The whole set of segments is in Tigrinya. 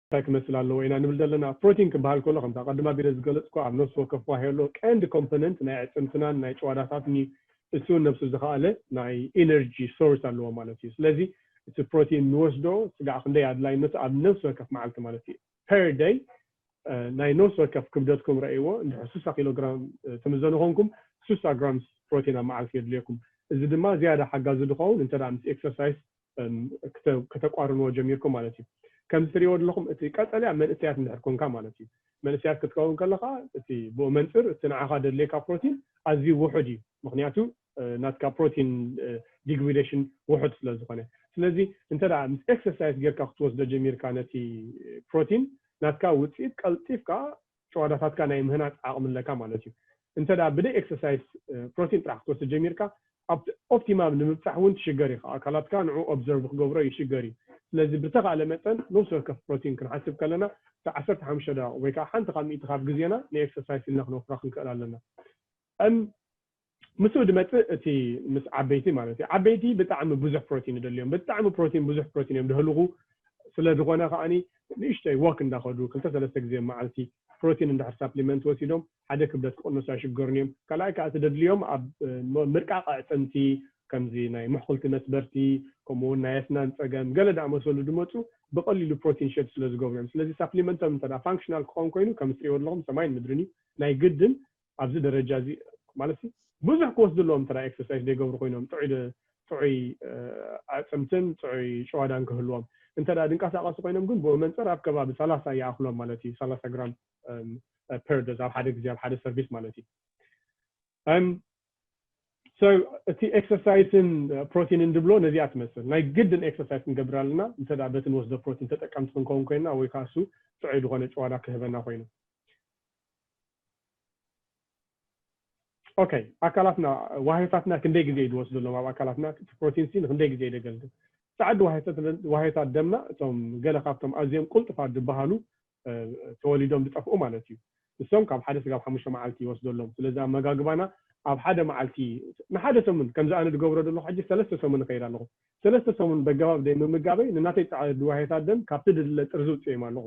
እንታይ ክመስል ኣለዎ ኢና ንብል ዘለና? ፕሮቲን ክበሃል ከሎ ከምቲ ኣቐድም ኣቢለ ዝገለጽኩዎ ኣብ ነፍሲ ወከፍ ዋህዮ ኣሎ። ቀንዲ ኮምፖነንት ናይ ኣዕጽምትናን ናይ ጭዋዳታትን'ዩ። እሱ ነብሱ ዝኸኣለ ናይ ኢነርጂ ሶርስ ኣለዎ ማለት እዩ። ስለዚ እቲ ፕሮቲን ንወስዶ ስጋዕ ክንደይ ኣድላይነቱ ኣብ ነብሲ ወከፍ መዓልቲ ማለት እዩ ፐር ደይ ናይ ነብሲ ወከፍ ክብደትኩም ረኣይዎ እንድሕር ስሳ ኪሎ ግራም ትምዘኑ ኮንኩም ስሳ ግራምስ ፕሮቲን ኣብ መዓልቲ የድልየኩም። እዚ ድማ ዝያዳ ሓጋዚ ዝኸውን እንተ ምስ ኤክሰርሳይስ ከተቋርንዎ ጀሚርኩም ማለት እዩ። ከምዚ ትሪእዎ ዘለኹም እቲ ቀጠልያ መንእሰያት እንድሕር ኮንካ ማለት እዩ። መንእሰያት ክትከውን ከለኻ እቲ ብኡ መንጽር እቲ ንዓኻ ደድልየካ ፕሮቲን ኣዝዩ ውሑድ እዩ። ምኽንያቱ ናትካ ፕሮቲን ዲግሪደሽን ውሑድ ስለ ዝኾነ። ስለዚ እንተ ምስ ኤክሰርሳይስ ጌርካ ክትወስዶ ጀሚርካ ነቲ ፕሮቲን ናትካ ውጽኢት ቀልጢፍካ ጭዋዳታትካ ናይ ምህናጽ ዓቕሚ ኣለካ ማለት እዩ። እንተድኣ ብደይ ኤክሰርሳይስ ፕሮቲን ጥራሕ ክትወስድ ጀሚርካ ኣብቲ ኦፕቲማም ንምብጻሕ እውን ትሽገር ኢኻ። ኣካላትካ ንዕኡ ኦብዘርቭ ክገብሮ ይሽገር እዩ። ስለዚ ብተኻእለ መጠን ነብሲ ወከፍ ፕሮቲን ክንሓስብ ከለና እቲ ዓሰርተ ሓሙሽተ ደቓቕ ወይ ከኣ ሓንቲ ካብ ሚእቲ ካብ ግዜና ንኤክሰርሳይስ ኢልና ክነውፍራ ክንክእል ኣለና። እም ምስኡ ድመጽእ እቲ ምስ ዓበይቲ ማለት እዩ ዓበይቲ ብጣዕሚ ብዙሕ ፕሮቲን ይደልዮም ብጣዕሚ ፕሮቲን ብዙሕ ፕሮቲን እዮም ድሀልኹ ስለ ድኾነ ከኣ ንእሽተይ ዎክ እንዳኸዱ ክልተ ሰለስተ ግዜ መዓልቲ ፕሮቲን እንድሕር ሳፕሊመንት ወሲዶም ሓደ ክብደት ክቕንሱ ኣይሽገሩን እዮም ካልኣይ ከኣ እቲ ደድልዮም ኣብ ምርቃቕ ኣዕጽምቲ ከምዚ ናይ ምሕኹልቲ መስበርቲ ከምኡ ውን ናይ ኣስናን ጸገም ገለ ድኣመሰሉ ድመጹ ብቐሊሉ ፕሮቲን ሸድ ስለ ዝገብሩ እዮም ስለዚ ሳፕሊመንቶም እንተ ፋንክሽናል ክኸውን ኮይኑ ከም እትርእይዎ ድለኹም ሰማይን ምድርን እዩ ናይ ግድን ኣብዚ ደረጃ እዚ ማለትሲ ብዙሕ ክወስዱ ኣለዎም እንተ ኤክሰርሳይስ ዘይገብሩ ኮይኖም ጥዑይ ጥዑይ ኣዕጽምትን ጥዑይ ጭዋዳን ክህልዎም እንተ ድንቃሳቀሱ ኮይኖም ግን ብመንጽር ኣብ ከባቢ ሰላሳ ይኣክሎም ማለት እዩ ሰላሳ ግራም ፐር ዶዝ ኣብ ሓደ ግዜ ኣብ ሓደ ሰርቪስ ማለት እዩ እም so እቲ ኤክሰርሳይስን ፕሮቲንን ድብሎ ነዚኣ ትመስል ናይ ግድን ኤክሰርሳይስ ክንገብር ኣለና እንተ በቲ ንወስዶ ፕሮቲን ተጠቀምቲ ክንከውን ኮይንና ወይ ከዓ እሱ ጥዑይ ዝኾነ ጭዋዳ ክህበና ኮይኑ ኦኬ ኣካላትና ዋህዮታትና ክንደይ ግዜ እዩ ዝወስደሎም ኣብ ኣካላትና እቲ ፕሮቲን ሲ ንክንደይ ግዜ ደገልግል ፃዕዲ ዋህዮታት ደማ እቶም ገለ ካብቶም ኣዝዮም ቁልጡፋት ዝበሃሉ ተወሊዶም ዝጠፍኡ ማለት እዩ ንሶም ካብ ሓደ ስጋብ ሓሙሽተ መዓልቲ ይወስደሎም ስለዚ ኣመጋግባና ኣብ ሓደ መዓልቲ ንሓደ ሰሙን ከምዚ ኣነ ዝገብሮ ዘለኹ ሕጂ ሰለስተ ሰሙን ይኸይድ ኣለኹ ሰለስተ ሰሙን በገባብ ደይ ምምጋበይ ንናተይ ጻዕሪ ድዋሄታት ደም ካብቲ ድድለ ጥርዚ ውጽኤም ኣለኹ።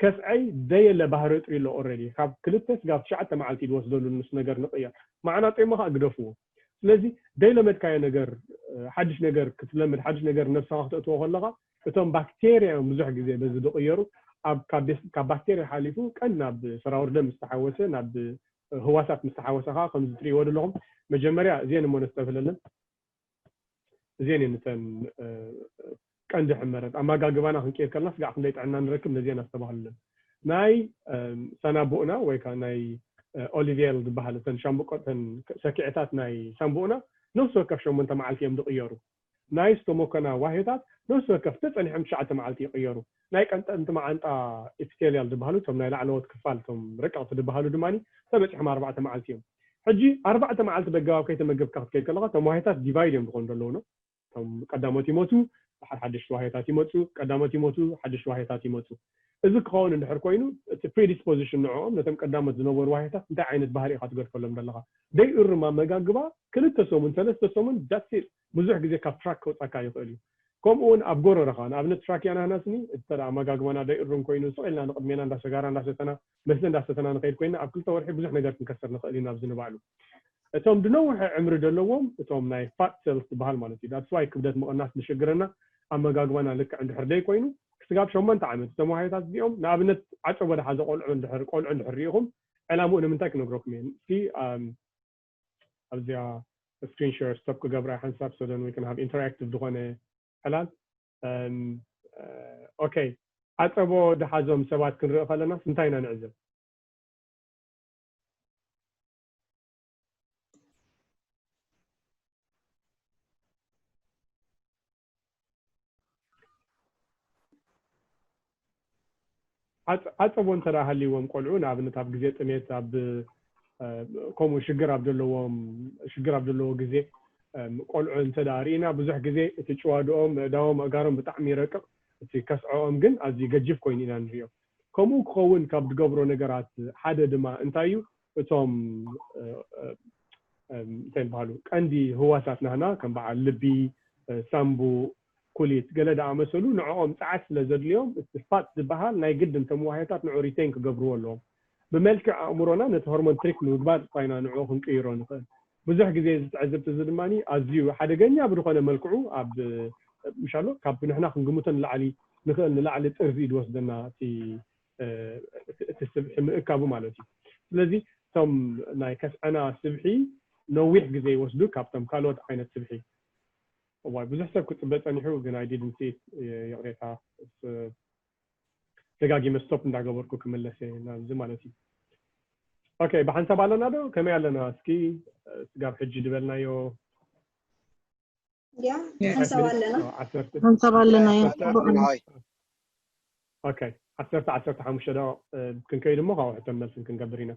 ከፍዐይ ደየለ ባህሪ እጥሪ ኣሎ ኦረዲ ካብ ክልተ ስጋብ ትሽዓተ መዓልቲ ድወስደሉን ምስ ነገር ንቅየር ማዕናጠይሞ ከኣ ግደፍዎ ስለዚ ደይለመድካዮ ነገር ሓድሽ ነገር ክትለምድ ሓድሽ ነገር ነብሰኻ ክተእትዎ ከለኻ እቶም ባክቴርያ እዮም ብዙሕ ግዜ በዚ ድቅየሩ ኣብ ካብ ባክቴርያ ሓሊፉ ቀን ናብ ሰራውር ደም ምስ ተሓወሰ ናብ ህዋሳት ምስ ተሓወሰ ከኣ ከምዚ ትርእይዎ ደለኹም መጀመርያ እዚኤን እሞ ነስተብህለለን። እዚኤን እየን እተን ቀንዲ ሕመረት ኣማጋግባና ክንቅይር ከለና ስጋዕ ክንደይ ጥዕና ንረክብ ነዚኤን ኣስተባህሉለን ናይ ሳናቡእና ወይ ካዓ ናይ ኦሊቬል ዝባሃል እተን ሻምብቆ እተን ሰኪዐታት ናይ ሳንቡእና ነፍሲ ወከፍ ሸሞንተ ማዓልቲ እዮም ዝቅየሩ ናይ ስቶሞኮና ዋህዮታት ነፍሲ ወከፍ እንተ ጸኒሖም ትሽዓተ ማዓልቲ ይቅየሩ ናይ ቀንጠንቲ መዓንጣ ኢፒቴልያል ድበሃሉ እቶም ናይ ላዕለዎት ክፋል እቶም ረቀቕቲ ድበሃሉ ድማ ተበጺሖም ኣርባዕተ መዓልቲ እዮም። ሕጂ ኣርባዕተ መዓልቲ ደጋዊ ኣብ ከይተመገብካ ክትከይድ ከለኻ እቶም ዋህዮታት ዲቫይድ እዮም ዝኾኑ ደለዉ ን እቶም ቀዳሞት ይሞቱ ድሓር ሓደሽቲ ዋህዮታት ይመጹ ቀዳሞት ይሞቱ ሓደሽቲ ዋህዮታት ይመጹ እዚ ክኸውን እንድሕር ኮይኑ እቲ ፕሪዲስፖዚሽን ንዕኦም ነቶም ቀዳሞት ዝነበሩ ዋህዮታት እንታይ ዓይነት ባህሪ ኢኻ ትገድፈሎም ደለኻ ደይ እሩም ኣመጋግባ ክልተ ሰሙን ሰለስተ ሰሙን ዳትስ ኢት። ብዙሕ ግዜ ካብ ትራክ ከውጻካ ይኽእል እዩ። ከምኡ ውን ኣብ ጎረረኻ ንኣብነት ትራክ ያናህናስኒ እተ ኣመጋግባና ደይእሩም ኮይኑ ስቕ ኢልና ንቕድሜና እንዳ ሰጋራ እንዳ ሰተና መስተ እንዳ ሰተና ንኸይድ ኮይና ኣብ ክልተ ወርሒ ብዙሕ ነገር ክንከስር ንኽእል ኢና ብዚ ንባዕሉ እቶም ድነውሐ ዕምሪ ደለዎም እቶም ናይ ፋት ሰልስ ድበሃል ማለት እዩ ዳትስ ዋይ ክብደት ምቕናስ ድሽግረና ኣመጋግባና ልክዕ እንድሕር ደይ ኮይኑ ክስጋብ ሸሞንተ ዓመት እቶም ዋህዮታት እዚኦም ንኣብነት ዓጨቦ ድሓዘ ቆልዑ እንድሕር ቆልዑ እንድሕር ሪኢኹም ዕላምኡ ንምንታይ ክነግረኩም እየ እስኪ ኣብዚኣ ስክሪን ሸር ስቶፕ ክገብራ ሓንሳብ ሰደን ወይ ክንሃብ ኢንተራክቲቭ ዝኾነ ዕላል ኦከ ዓፀቦ ድሓዞም ሰባት ክንርኢ ከለናስ እንታይ ኢና ንዕዘብ? ዓፀቦ እንተ ሃልይዎም ቆልዑ ንኣብነት ኣብ ግዜ ጥሜት ኣብ ከምኡ ሽግር ኣብ ዘለዎም ሽግር ኣብ ዘለዎ ግዜ ቆልዑ እንተ ርኢና ብዙሕ ግዜ እቲ ጭዋድኦም ምእዳዎም ኣእጋሮም ብጣዕሚ ይረቅቕ እቲ ከስዐኦም ግን ኣዝዩ ገጂፍ ኮይኑ ኢና ንሪኦ ከምኡ ክኸውን ካብ ዝገብሮ ነገራት ሓደ ድማ እንታይ እዩ እቶም እንታይ ይበሃሉ ቀንዲ ህዋሳት ናህና ከም በዓል ልቢ፣ ሳንቡ፣ ኩሊት ገለ ዝኣመሰሉ ንዕኦም ጸዓት ስለ ዘድልዮም እቲ ፋት ዝበሃል ናይ ግድን እቶም ዋህዮታት ንዕኡ ሪተይን ክገብርዎ ኣለዎም። ብመልክዕ ኣእምሮና ነቲ ሆርሞን ትሪክ ብምግባር እኳ ኢና ንዕኡ ክንቅይሮ ንኽእል። ብዙሕ ግዜ እዚ ትዕዝብቲ እዚ ድማ ኣዝዩ ሓደገኛ ብዝኾነ መልክዑ ኣብ ምሻሎ ካብ ንሕና ክንግምቶ ንላዕሊ ንኽእል ንላዕሊ ጥርዚ እዩ ዝወስደና እቲ እቲ ስብሒ ምእካቡ ማለት እዩ። ስለዚ እቶም ናይ ከስዐና ስብሒ ነዊሕ ግዜ ይወስዱ ካብቶም ካልኦት ዓይነት ስብሒ። እዋይ ብዙሕ ሰብ ክጽበ ጸኒሑ ግን i didn't see it ይቕሬታ ደጋጊመ stop እንዳገበርኩ ክምለስ እየ ናብዚ ማለት እዩ። ኦኬ ብሓንሳብ ኣለና ዶ ከመይ ኣለና እስኪ ስጋብ ሕጂ ድበልናዮ። እንዲያ ንሕንሰብ ኣለና ንሕንሰብ ኣለና እያ ፅቡቅ ኦኬ ዓሰርተ ዓሰርተ ሓሙሽተ ደቂቕ ክንከይድ እሞ ካብኡ ሕቶን መልስን ክንገብር ኢና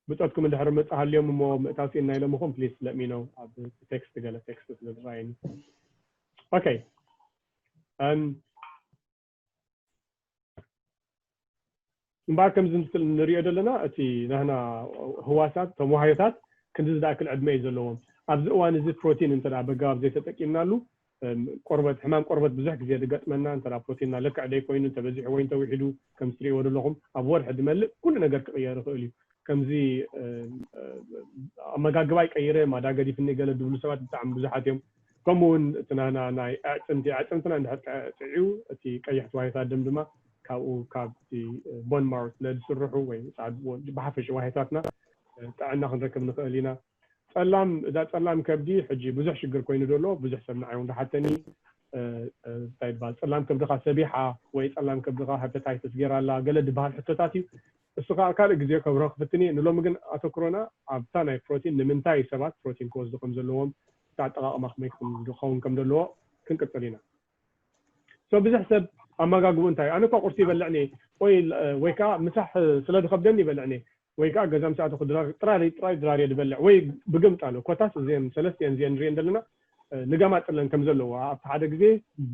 ብፆትኩም እንድሕር መፅ ሃልዮም እሞ ምእታው ሲእና ኢሎምኹም ፕሊስ ለሚኖ ኣብ ቴክስት ገለ ቴክስት ስለ ዝረኣየኒ ኦኬ እምበኣር ከምዚ ምስል ንሪኦ ዘለና እቲ ናህና ህዋሳት እቶም ዋህዮታት ክንድዚ ዝኣክል ዕድመ እዩ ዘለዎም። ኣብዚ እዋን እዚ ፕሮቲን እንተ በጋባብ ዘይተጠቂምናሉ ቆርበት ሕማም ቆርበት ብዙሕ ግዜ ዝገጥመና እንተ ፕሮቲንና ልክዕ ዘይኮይኑ እንተ በዚሑ ወይ እንተ ዊሒዱ ከምዚ ትሪእዎ ዘለኹም ኣብ ወርሒ ዝመልእ ኩሉ ነገር ክቕየር ይኽእል እዩ። ከምዚ ኣመጋግባይ ቀይረ ማዳ ገዲፍኒ ገለ ዝብሉ ሰባት ብጣዕሚ ብዙሓት እዮም። ከምኡ ውን እቲ ናህና ናይ ኣዕጽምቲ ኣዕጽምትና እንድሕር ጥዕዩ እቲ ቀያሕቲ ዋህዮታት ደም ድማ ካብኡ ካብቲ ቦን ማሮ ስለ ዝስርሑ ወይ ብሓፈሽኡ ዋህዮታትና ጥዕና ክንረክብ ንኽእል ኢና። ጸላም እዛ ጸላም ከብዲ ሕጂ ብዙሕ ሽግር ኮይኑ ዶ ኣሎ ብዙሕ ሰብ ንዓይ ውን ዳሓተኒ እንታይ ይባሃል ጸላም ከብድኻ ሰቢሓ ወይ ጸላም ከብድኻ ሀፐታይተስ ጌራ ኣላ ገለ ድባሃል ሕቶታት እዩ እሱ ከኣ ካልእ ግዜ ከብርሆ ክፍትን እየ። ንሎሚ ግን ኣተኩሮና ኣብታ ናይ ፕሮቲን ንምንታይ ሰባት ፕሮቲን ክወስዱ ከም ዘለዎም እቲ ኣጠቃቅማ ከመይ ክኸውን ከም ዘለዎ ክንቅጽል ኢና። So ብዝሕ ሰብ ኣማጋግብኡ እንታይ እዩ ኣነ እኳ ቁርሲ ይበልዕ እኔ ቆይ ወይ ከኣ ምሳሕ ስለ ዝከብደኒ ይበልዕ እኔ ወይ ከኣ ገዛ ምስ ኣተኩ ድራር ጥራር ጥራይ ድራር እየ ድበልዕ ወይ ብግምጣሎ ኮታስ እዘን ሰለስተ እየን እዚኤን ንሪኤን ዘለና ንጋማጥለን ከም ዘለዎ ኣብቲ ሓደ ግዜ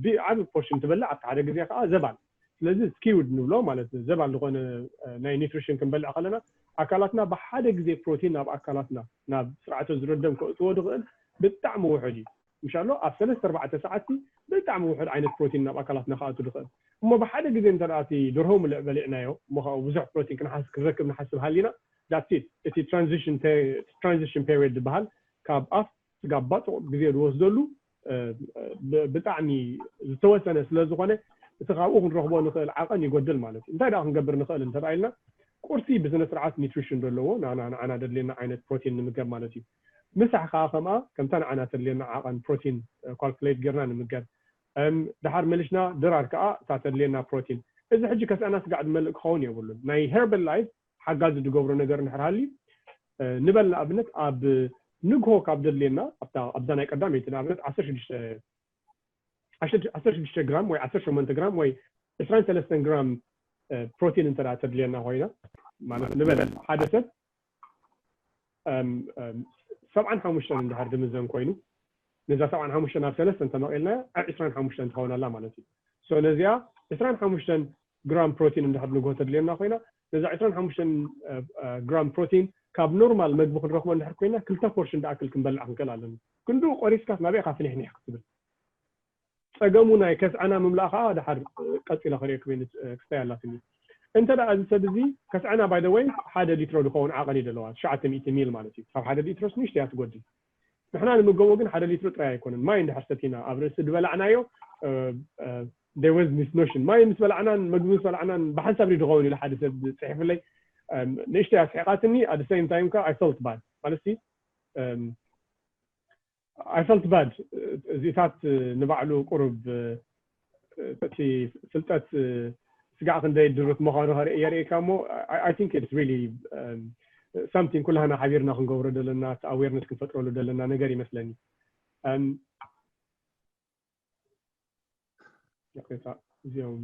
ብዓቢ ፖርሽን ትበልዕ ኣብቲ ሓደ ግዜ ከኣ ዘባን ስለዚ ስኪውድ ንብሎ ማለት ዘባል ዝኾነ ናይ ኒትሪሽን ክንበልዕ ከለና ኣካላትና ብሓደ ግዜ ፕሮቲን ናብ ኣካላትና ናብ ስርዓተ ዝሮ ደም ከእትዎ ድኽእል ብጣዕሚ ውሑድ እዩ ምሻሎ ኣብ ሰለስተ ኣርባዕተ ሰዓትቲ ብጣዕሚ ውሑድ ዓይነት ፕሮቲን ናብ ኣካላትና ክኣቱ ድኽእል እሞ ብሓደ ግዜ እንተ እቲ ደርሆ ምልዕ በሊዕናዮ እሞ ካብኡ ብዙሕ ፕሮቲን ክንሓስ ክንረክብ ንሓስብ ሃሊና ዳትስ ኢት እቲ ትራንዚሽን ትራንዚሽን ፔሪድ ድበሃል ካብ ኣፍ ስጋብ ባጽቕ ግዜ ድወስደሉ ብጣዕሚ ዝተወሰነ ስለ ዝኾነ እቲ ካብኡ ክንረኽቦ ንኽእል ዓቐን ይጎድል ማለት እዩ እንታይ ደኣ ክንገብር ንኽእል እንተባኢልና ቁርሲ ብስነ ስርዓት ኒትሪሽን ዘለዎ ናና ንዓና ደድልየና ዓይነት ፕሮቲን ንምገብ ማለት እዩ ምሳሕ ከኣ ከምኣ ከምታ ንዓና ተድልየና ዓቐን ፕሮቲን ኳልኩሌት ጌርና ንምገብ ደሓር መሊሽና ድራር ከኣ እታ ተድልየና ፕሮቲን እዚ ሕጂ ከስዐና ስጋዕ ዝመልእ ክኸውን የብሉን ናይ ሄርበል ላይፍ ሓጋዚ ዝገብሮ ነገር እንድሕር ሃልዩ ንበል ንኣብነት ኣብ ንግሆ ካብ ዘድልየና ኣብታ ኣብዛ ናይ ቀዳመይቲ ንኣብነት ዓሰርተ ሽዱሽተ ዓሰርተ ዓሰርተ ሽዱሽተ ግራም ወይ ዓሰርተ ሸሞንተ ግራም ወይ ዕስራን ሰለስተን ግራም ፕሮቲን እንተ ደኣ ተድልየና ኮይና ማለት ንበል ሓደ ሰብ ሰብዓን ሓሙሽተን እንድሕር ዝምዘን ኮይኑ ነዛ ሰብዓን ሓሙሽተን ኣብ ሰለስተ እንተመቒልናያ ዕስራን ሓሙሽተን ትኸውን ኣላ ማለት እዩ ሶ ነዚኣ ዕስራን ሓሙሽተን ግራም ፕሮቲን እንድሕር ንግሆ ተድልየና ኮይና፣ ነዛ ዕስራን ሓሙሽተን ግራም ፕሮቲን ካብ ኖርማል መግቢ ክንረኽቦ እንድሕር ኮይና ክልተ ፖርሽን ድኣክል ክንበልዕ ክንክእል ኣለና። ክንድኡ ቆሪስካስ ናበይ ኢኻ ፍኒሕኒሕ ክትብል? ጸገሙ ናይ ከስዐና ምምላኣ ከኣ ድሓር ቀጺለ ከርእየኩም እየ ክስታይ ኣላትኒ። እንተ እዚ ሰብ እዚ ከስዐና ባይ ዘ ወይ ሓደ ሊትሮ ድኸውን ዓቐን እዩ ደለዋ ትሽዓተ ሚእቲ ሚል ማለት እዩ። ካብ ሓደ ሊትሮስ ንእሽተይ እያ ትጎድል። ንሕና ንምገቦ ግን ሓደ ሊትሮ ጥራይ ኣይኮነን ማይ እንድሕር ሰቲና ኣብ ርእሲ ድበላዕናዮ there was this notion ማይ ምስ በላዕናን መግቢ ምስ በላዕናን ብሓንሳብ ድዩ ድኸውን ኢሉ ሓደ ሰብ ጽሒፉለይ ንእሽተይ ኣስሒቓትኒ at the same time ከኣ I felt bad ማለትሲ I felt bad እዚታት ንባዕሉ ቁሩብ እቲ ፍልጠት ስጋዕ ክንደይ ድሩት ምዃኑ የርእየካ እሞ ኣይ ቲንክ ኢትስ ሪሊ ሳምቲንግ ኩላህና ሓቢርና ክንገብሮ ዘለና እቲ ኣዌርነስ ክንፈጥረሉ ዘለና ነገር ይመስለኒ ይቕሬታ እዚኦም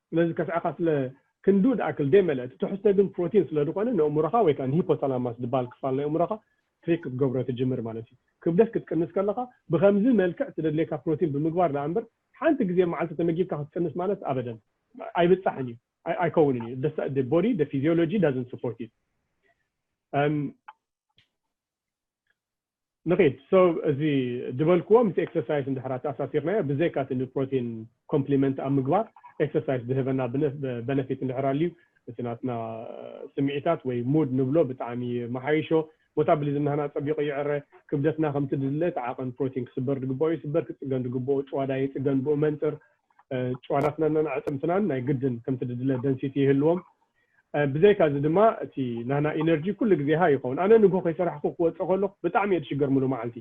ስለዚ ከስዐኻ ስለ ክንድኡ ድኣክል ደይመልአ እቲ ትሕዝቶ ግን ፕሮቲን ስለ ድኾነ ንእእምሮኻ ወይ ከኣ ንሂፖታላማስ ድበሃል ክፋል ናይ እእምሮኻ ትሪክ ክትገብሮ ትጅምር ማለት እዩ። ክብደት ክትቅንስ ከለኻ ብኸምዚ መልክዕ ትደድልየካ ፕሮቲን ብምግባር ድኣ እምበር ሓንቲ ግዜ ኣብ መዓልቲ ተመጊብካ ክትቅንስ ማለት ኣበደን ኣይብጻሕን እዩ ኣይከውንን እዩ the the body the physiology doesn't support it እም ንኺድ so እዚ ድበልክዎ ምስ ኤክሰርሳይስ እንድሕር ኣተኣሳሲርናዮ ብዘይካ እቲ ንፕሮቲን ኮምፕሊመንት ኣብ ምግባር ኤክሰርሳይስ ድህበና በነፊት እንድሕር ኣልዩ እቲ ናትና ስምዒታት ወይ ሙድ ንብሎ ብጣዕሚ ይመሓይሾ ሞታብሊዝም ናህና ጸቢቑ ይዕረ ክብደትና ከምቲ ድድለ እቲ ዓቐን ፕሮቲን ክስበር ድግበኦ ይስበር ክጽገን ድግበኦ ጭዋዳ ይጽገን ብኡ መንጽር ጭዋዳትናናን ኣዕጽምትናን ናይ ግድን ከምቲ ድድለ ደንሲቲ ይህልዎም ብዘይካ እዚ ድማ እቲ ናህና ኢነርጂ ኩሉ ግዜ ሃይ ይኸውን። ኣነ ንግሆ ከይሰራሕኩ ክወጽእ ከለኹ ብጣዕሚ እየ ዝሽገር ምሉእ መዓልቲ።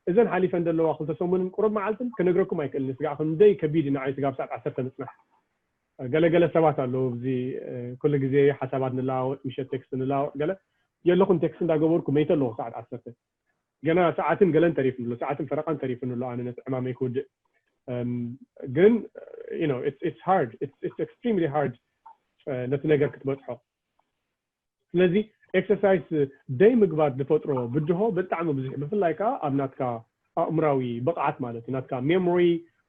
እዘን ሓሊፈን ዘለዋ ክልተ ሰሙንን ቁሩብ መዓልትን ክነግረኩም ኣይክእልን ስጋዕ ክንደይ ከቢድ እዩ ንዓይ ስጋብ ሰዓት ዓሰርተ ምጽናሕ። ገለ ገለ ሰባት ኣለዉ ኣብዚ ኩሉ ግዜ ሓሳባት ንለዋወጥ ምሸት ቴክስት ንለዋወጥ ገለ የለኹን ቴክስት እንዳገበርኩ መይተ ኣለኹ ሰዓት ዓሰርተ። ገና ሰዓትን ገለን ተሪፍኒ ኣሎ ሰዓትን ፈረቃን ተሪፍኒ ኣሎ ኣነ ነቲ ዕማመይ ክውድእ እም ግን you know it's it's hard it's it's extremely hard ነቲ ነገር ክትበጽሖ ስለዚ ኤክሰርሳይስ ደይ ምግባር ዝፈጥሮ ብድሆ ብጣዕሚ ብዙሕ ብፍላይ ከዓ ኣብ ናትካ ኣእምራዊ ብቕዓት ማለት እዩ ናትካ ሜሞሪ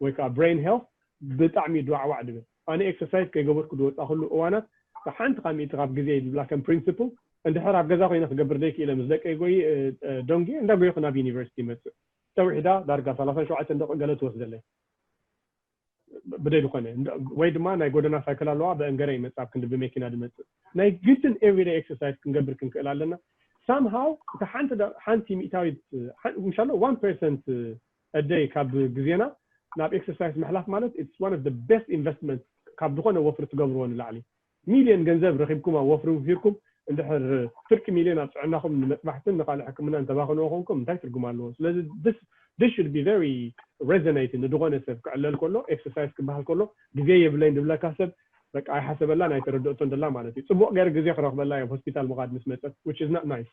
ወይ ከዓ ብሬን ሄልት ብጣዕሚ ድዋዕዋዕ ድብል ኣነ ኤክሰርሳይዝ ከይገበርኩ ዝወጻኹሉ እዋናት ሓንቲ ካብ ሚእቲ ካብ ግዜይ ዝብላ ከም ፕሪንስፕል እንድሕር ኣብ ገዛ ኮይነ ክገብር ዘይክኢለ ምስ ደቀይ ጎይ ደንጒየ እንዳጎየኹ ናብ ዩኒቨርሲቲ ይመጽእ ጨው ሒዳ ዳርጋ ሰላሳን ሸውዓተን ደቒቕ ገለ ትወስደለይ ብደይ ዝኾነ ወይ ድማ ናይ ጎደና ሳይክል ኣለዋ በእን ገረ ይመጽእ ኣብ ክንዲ ብመኪና ዝመጽእ ናይ ግድን ኤቭሪደይ ኤክሰርሳይዝ ክንገብር ክንክእል ኣለና ሳምሃው እታ ሓንቲ ሓንቲ ሚእታዊት ምሻሎ ዋን ፐርሰንት እደይ ካብ ግዜና ናብ ኤክሰርሳይስ ምሕላፍ ማለት ኢትስ ዋን ኦፍ ዘ ቤስት ኢንቨስትመንት ካብ ዝኾነ ወፍሪ ትገብርዎ ንላዕሊ ሚልዮን ገንዘብ ረኺብኩም ኣብ ወፍሪ ውፊርኩም እንድሕር ፍርቂ ሚልዮን ኣብ ጥዕናኹም ንመጥባሕትን ንኻልእ ሕክምናን ተባኽንዎ ኮንኩም እንታይ ትርጉም ኣለዎ ስለዚ this this should be very resonate ንድኾነ ሰብ ክዕለል ከሎ ኤክሰርሳይስ ክበሃል ከሎ ግዜ የብለይን ድብለካ ሰብ በቃ ኣይሓሰበላን ኣይተረደኦቶን ደላ ማለት እዩ ጽቡቕ ገይረ ግዜ ክረኽበላ እየ ኣብ ሆስፒታል ምኻድ ምስ መጸት which is not nice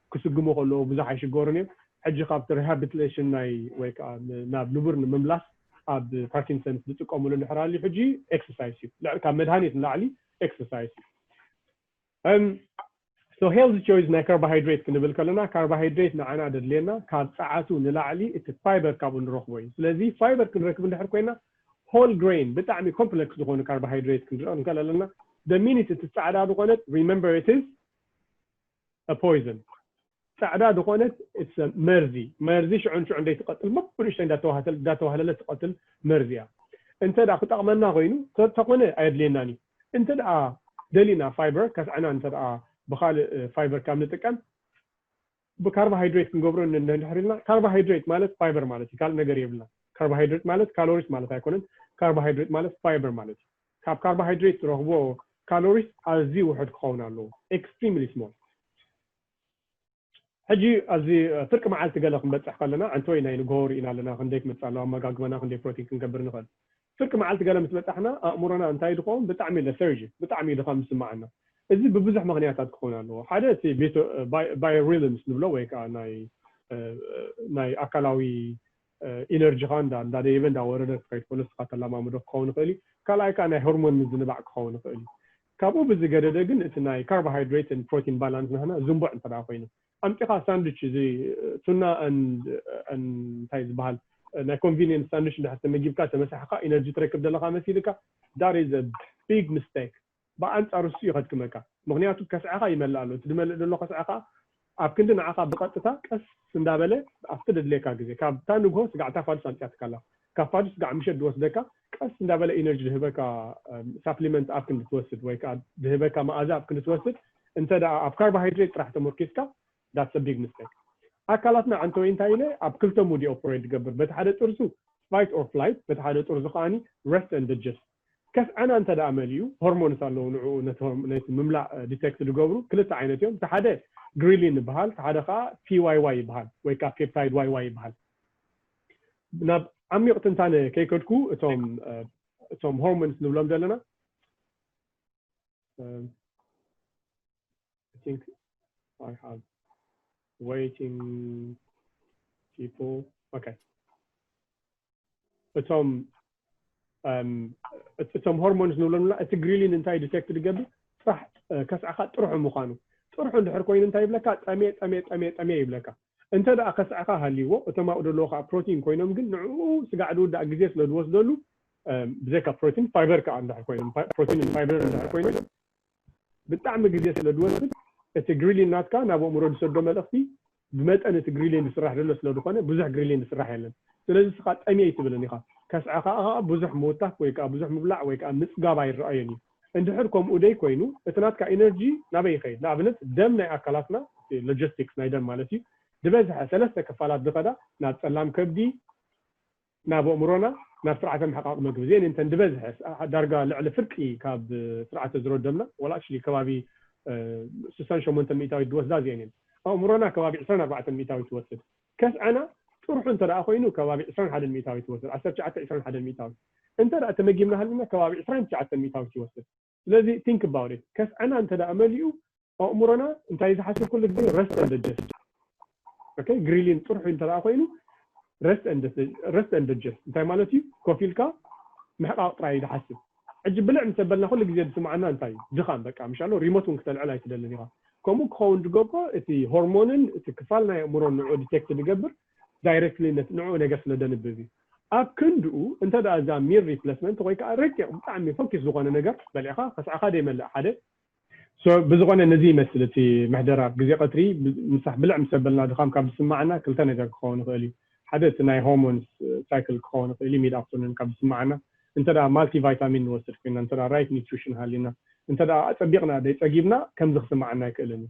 ክስጉሙ ከለዉ ብዙሕ ኣይሽገሩን እዮም። ሕጂ ካብቲ ሪሃብትሌሽን ናይ ወይ ከኣ ናብ ንቡር ንምምላስ ኣብ ፓርኪንሰንስ ዝጥቀምሉ እንድሕር ኣልዩ ሕጂ ኤክሰርሳይስ እዩ። ልዕሊ ካብ መድሃኒት ንላዕሊ ኤክሰርሳይስ እዩ። እም ሶ ሄልዝ ቾይዝ ናይ ካርባሃይድሬት ክንብል ከለና ካርባሃይድሬት ንዓና ደድልየና ካብ ጸዓቱ ንላዕሊ እቲ ፋይበር ካብኡ ንረኽቦ እዩ። ስለዚ ፋይበር ክንረክብ እንድሕር ኮይና ሆል ግሬን ብጣዕሚ ኮምፕለክስ ዝኾኑ ካርባሃይድሬት ክንርኢ እንክእል ኣለና። the minute እቲ ጻዕዳ ዝኾነት remember it is a poison ጻዕዳ ዝኾነት it's a መርዚ መርዚ ሽዑ ንሽዑ እንደይ ትቐትል በብንእሽተይ እንዳተዋህተል እንዳተዋህለለት ትቐትል መርዚ እያ እንተ ደኣ ክጠቕመና ኮይኑ ተ- ተኾነ ኣየድልየናን እዩ እንተ ደኣ ደሊና ፋይበር ከስዐና እንተ ደኣ ብኻልእ ፋይበር ካብ ንጥቀም ብካርቦሃይድሬት ክንገብሮ ን- ንድሕር ኢልና ካርቦሃይድሬት ማለት ፋይበር ማለት እዩ ካልእ ነገር የብልና ካርቦሃይድሬት ማለት ካሎሪስ ማለት ኣይኮነን ካርቦሃይድሬት ማለት ፋይበር ማለት እዩ ካብ ካርቦሃይድሬት ትረኽቦ ካሎሪስ ኣዝዩ ውሑድ ክኸውን ኣለዎ፣ extremely small። ሕጂ ኣብዚ ፍርቂ መዓልቲ ገለ ክንበጽሕ ከለና፣ ዓንተወይ ናይ ንግሆ ርኢና ኣለና፣ ክንደይ ክመጽእ ኣለዎ ኣመጋግባና፣ ክንደይ ፕሮቲን ክንገብር ንኽእል። ፍርቂ መዓልቲ ገለ ምስ በጻሕና ኣእምሮና እንታይ እዩ ዝኸውን? ብጣዕሚ lethargic፣ ብጣዕሚ እዩ ድኻም ዝስምዓና። እዚ ብብዙሕ ምኽንያታት ክኸውን ኣለዎ፣ ሓደ እቲ ቤቶ፣ ባይ፣ ባዮሪልምስ ንብሎ ወይ ከኣ ናይ፣ ናይ ኣካላዊ ኢነርጂኻ እንዳ እንዳ ደየበ እንዳ ወረደ ክኸይድ ከሎ ንስኻ ተላማምዶ ክኸውን ይኽእል እዩ። ካልኣይ ከኣ ናይ ሆርሞን ምዝንባዕ ክኸውን ይኽእል እዩ። ካብኡ ብዝገደደ ግን እቲ ናይ ካርቦሃይድሬት and ፕሮቲን ባላንስ ናህና ዝንቡዕ እንተ ደኣ ኮይኑ ኣምጺኻ ሳንድዊች እዚ ቱና and and እንታይ ዝበሃል ናይ ኮንቪንየንስ ሳንድዊች እንድሕር ተመጊብካ ተመሳሒኻ ኢነርጂ ትረክብ ዘለኻ መሲልካ that is a big mistake። ብኣንጻሩ ንሱ'ዩ ከድክመካ ምኽንያቱ ከስዐኻ ይመልእ ኣሎ እቲ ዝመልእ ዘሎ ከስዐ ከኣ ኣብ ክንዲ ንዓኻ ብቐጥታ ቀስ እንዳበለ ኣብቲ ደድልየካ ግዜ ካብታ ንግሆ ስጋዕታ ፋዱስ ኣምጺኣትካ ኣላ ካብ ፋዱስ ስጋዕ ምሸት ድወስደካ ቀስ እንዳበለ ኢነርጂ ድህበካ ሳፕሊመንት ኣብ ክንዲ ትወስድ ወይ ከኣ ድህበካ መኣዛ ኣብ ክንዲ ትወስድ እንተ ደኣ ኣብ ካርቦሃይድሬት ጥራሕ ተሞርኪስካ ዳትስ ኣ ቢግ ምስተክ ኣካላትና ዓንተወይ እንታይ ኢለ ኣብ ክልተ ሙድ ኢዩ ኦፕሬት ድገብር በቲ ሓደ ጥርዙ ፋይት ኦር ፍላይት በቲ ሓደ ጥርዙ ከኣ ረስት ኣንድ ድጀስት ከፍ ዕና እንተ ደኣ መሊኡ፣ ሆርሞንስ ኣለዉ ንዕኡ ነቲ ነቲ ምምላእ ዲተክት ድገብሩ፣ ክልተ ዓይነት እዮም፣ እቲ ሓደ ግሪሊን ይበሃል፣ እቲ ሓደ ከኣ ፒዋይዋይ ይበሃል ወይ ከኣ ፔፕታይድ ዋይዋይ ይበሃል። ናብ ዓሚቕ ትንታነ ከይከድኩ እቶም እቶም ሆርሞንስ ንብሎም ዘለና I think I have waiting people. Okay. እቶም እቶም ሆርሞንስ ንብሎም ና እቲ ግሪሊን እንታይ ዲቴክት ድገብር ጥራሕ ከስዕኻ ጥርሑ ምዃኑ ጥርሑ እንድሕር ኮይኑ እንታይ ይብለካ ጠሜ ጠሜ ጠሜ ጠሜ ይብለካ እንተ ደኣ ከስዕኻ ሃልይዎ እቶም ኣብኡ ደለዎ ከዓ ፕሮቲን ኮይኖም ግን ንዕኡ ስጋዕ ድውዳእ ግዜ ስለ ዝወስደሉ ብዘይካ ፕሮቲን ፋይበር ከዓ እንድሕር ኮይኖም ፕሮቲን ፋይበር እንድሕር ኮይኖም ብጣዕሚ ግዜ ስለ ድወስድ እቲ ግሪሊን ናትካ ናብ ኣእምሮ ድሰዶ መልእኽቲ ብመጠን እቲ ግሪሊን ድስራሕ ደሎ ስለ ድኾነ ብዙሕ ግሪሊን ድስራሕ የለን ስለዚ እስኻ ጠምየ ኣይትብልን ኢኻ ከስዐ ኸኣ ኸኣ ብዙሕ ምውታፍ ወይ ከኣ ብዙሕ ምብላዕ ወይ ከኣ ምጽጋብ ኣይረኣዮን እዩ እንድሕር ከምኡ ደይ ኮይኑ እቲ ናትካ ኢነርጂ ናበይ ይኸይድ ንኣብነት ደም ናይ ኣካላትና እቲ ሎጀስቲክስ ናይ ደም ማለት እዩ ድበዝሐ ሰለስተ ክፋላት ድኸዳ ናብ ጸላም ከብዲ ናብ ኣእምሮና ናብ ስርዓተ ምሕቓቕ መግቢ ዜኒንተን ዝበዝሐ ዳርጋ ልዕሊ ፍርቂ ካብ ስርዓተ ዝሮደምና well actually ከባቢ ስሳን ሸሞንተን ሚእታዊት ዝወስዳ እዚኤን እየን ኣእምሮና ከባቢ ዕስራን ኣርባዕተን ሚእታዊት ይወስድ ከስዐና ጥርሑ እንተ ኮይኑ ከባቢ ዕስራን ሓደን ሚእታዊት ይወስድ ዓሰርተ ትሽዓተ ዕስራን ሓደን ሚእታዊት እንተ ተመጊብና ሃሊና ከባቢ ዕስራን ትሽዓተን ሚእታዊት ይወስድ ስለዚ think about it ከስዐና እንተ መሊኡ ኣእምሮና እንታይ እዩ ዝሓስብ ኩሉ ግዜ rest and digest okay ግሪሊን ጥርሑ እንተ ኮይኑ rest and rest and digest እንታይ ማለት እዩ ኮፍ ኢልካ ምሕቃቕ ጥራይ ዝሓስብ ሕጂ ብልዕ ምስ ኣበልና ኩሉ ግዜ ዝስምዓና እንታይ እዩ ድኻም በቃ ምሻ ኣሎ ሪሞት እውን ክተልዕል ኣይትደልን ኢኻ ከምኡ ክኸውን ዝገብሮ እቲ ሆርሞንን እቲ ክፋል ናይ ኣእምሮ ንዑ ዲቴክት ዝገብር ዳይረክትሊ ንዕኡ ነገር ስለ ደንብብ እዩ። ኣብ ክንድኡ እንተ ደኣ እዛ ሚል ሪፕለስመንት ወይ ከኣ ረቂቕ ብጣዕሚ ፈኪስ ዝኾነ ነገር በሊዕካ ከስዐኻ ደይመልእ ሓደ። So ብዝኾነ ነዚ ይመስል እቲ ምሕደራ ኣብ ግዜ ቀትሪ ምሳሕ ብልዕ ምስ ኣበልና ድኻም ካብ ዝስመዓና ክልተ ነገር ክኸውን ይኽእል እዩ። ሓደ እቲ ናይ ሆርሞንስ ሳይክል ክኸውን ይኽእል እዩ ሚድ ኣፍተርኑን ካብ ዝስመዓና እንተ ደኣ ማልቲ ቫይታሚን ንወስድ ኮይና እንተ ደኣ ራይት ኒትሪሽን ሃልዩና እንተ ደኣ ኣጸቢቕና ደይጸጊብና ከምዚ ክስመዓና ኣይክእልን እዩ።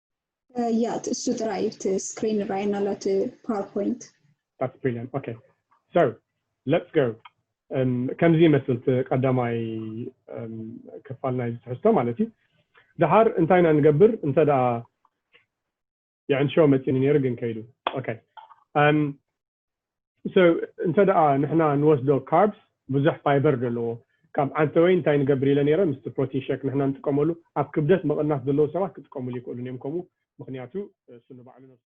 ያት እሱ ጥራይ እቲ ስክሪን ራይና ኣሎ እቲ ፓወርፖይንት That's brilliant. Okay. So let's go. Um, ከምዚ ይመስል እቲ ቀዳማይ um, ክፋል ናይ ትሕዝቶ ማለት እዩ ድሓር እንታይ ኢና ንገብር እንተ ደኣ የዕንሾ መፂኒ ነይሩ ግን ከይዱ ኦኬ um, so እንተ ንሕና ንወስዶ carbs ብዙሕ fiber ደለዎ ካብ ዓንተወይ እንታይ ንገብር ኢለ ነረ ምስቲ protein shake ንሕና ንጥቀመሉ ኣብ ክብደት ምቕናስ ዘለዉ ሰባት ክጥቀምሉ ይክእሉን እዮም ከምኡ ምኽንያቱ እሱ ንባዕሉ ነብሱ